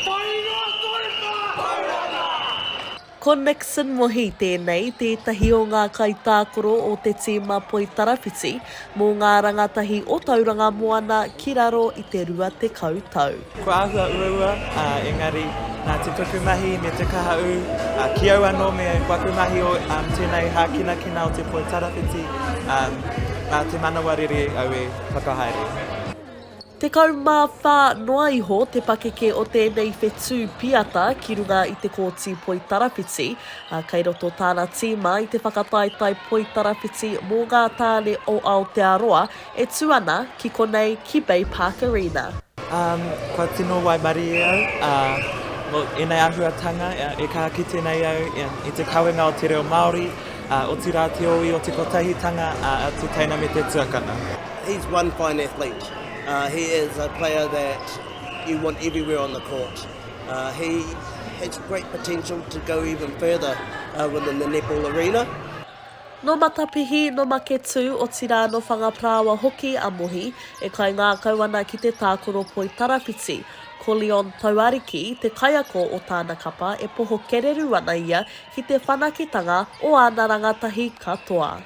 Whai noa koe mā! Whai noa mā! Ko Nixon Mohi tēnei, tētahi o ngā kaitākoro o te tīma Poitarawhiti mō ngā rangatahi o Tauranga Moana ki raro i te 20 tau. Kua āhua uaua, ā, engari, nā te tuku mahi me te kaha ū, ā, ki au anō me waku mahi o tēnei hākinakina o te Poitarawhiti, ā, nā te manawa rere au e whakahaere. Tekau mā whā noa iho te pakeke o tēnei whetū piata ki runga i te Kōti Poitarawhiti, ā, kei roto tāna tīma i te whakataetae poitarawhiti mō ngā tāne o Aotearoa e tū ana ki konei ki Bay Park Arena. Um, kua tino waimarie au, ā, nō ēnei āhuatanga, ā, e kaha kite nei au, ā, i te kawenga o te reo Māori, ā, otirā te ōi o te kotahitanga, ā, te teina me te tuakana. He's one fine athlete. Uh, he is a player that you want everywhere on the court. Uh, he has great potential to go even further uh, within the netball arena. No Matapihi, no Maketū, otirā no Whangaparāoa hoki a Mohi, e kaingākau ana ki te tākoro poi tarawhiti. Ko Leon Tauariki te kaiako o tāna kapa e poho kererū ana ia ki te whanakitanga o āna rangatahi katoa.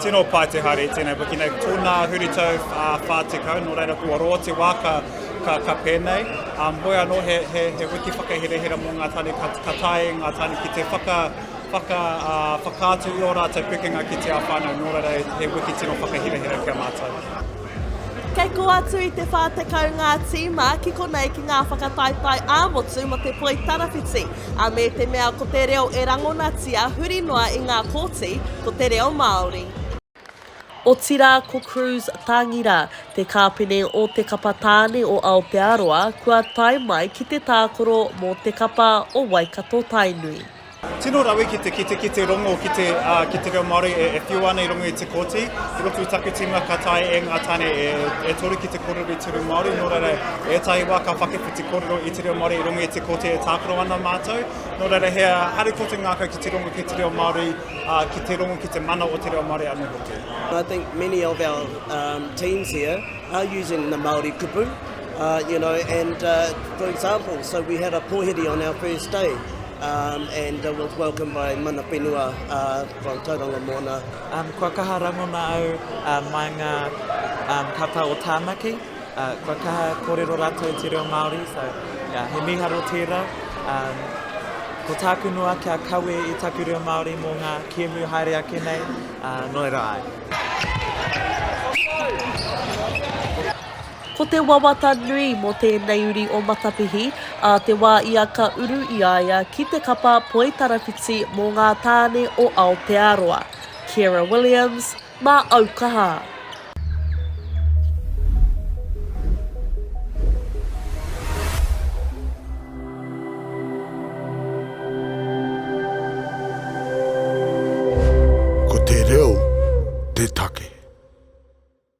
Tino pai te haere i tenei wiki nei. Tona huritau a wha tekau, no reira kua roa te wa ka, ka, ka penei. Um, hoi ano he, he, he wiki whakaherehera mo nga tane ka, ka tae nga tane ki te whaka, whaka, uh, whakaatu i o ratou pikinga ki te a whanau, no reira he wiki tino whakaherehera ki a matou. Kei kō atu i te 40 ngā tīma ki konei ki ngā whakataetae ā-motu mō te poi tarawhiti, ā, me te mea ko te reo e rangonatia huri noa i ngā kōti, ko te reo Māori. Otirā ko Cruz Tāngira, te kāpene o te kapa tāne o Aotearoa, kua tae mai ki te tākoro mō te kapa o Waikato-Tainui. Tino rawe ki te kite ki te rongo ki te ki te reo Māori e, e whiua ana i rongo i te kōti. I roto i taku tīma ka tae e ngā tāne e, e toru ki te kōrero i te reo Māori, nō reira e tahi wā ka whakiwhi te kōrero i te reo Māori i rongo i te kōti e tākaro ana mātou. Nō reira he haere ko te ngākau ki te rongo ki te reo Māori, uh, ki te rongo ki te mana o te reo Māori anō hoki. I think many of our um, teams here are using the Māori kupu, uh, you know, and uh, for example, so we had a pōhiri on our first day, and was welcomed by Mana Whenua from Tauranga Moana. Kua kaha rangona au mai ngā kapa o Tāmaki, kua kaha kōrero rātou te reo Māori, so yeah, he mīharo tērā. Ko tāku noa kia kawe i taku reo Māori mō ngā kēmu haere ake nei, nō reira ai. Ko te wawata nui mō tēnei uri o Matapihi, ā te wā ia ka uru i a ia ki te kapa Poi Tarawhiti mō ngā tāne o Aotearoa. Ciara Williams, mā Aukaha. Ko te reo te take.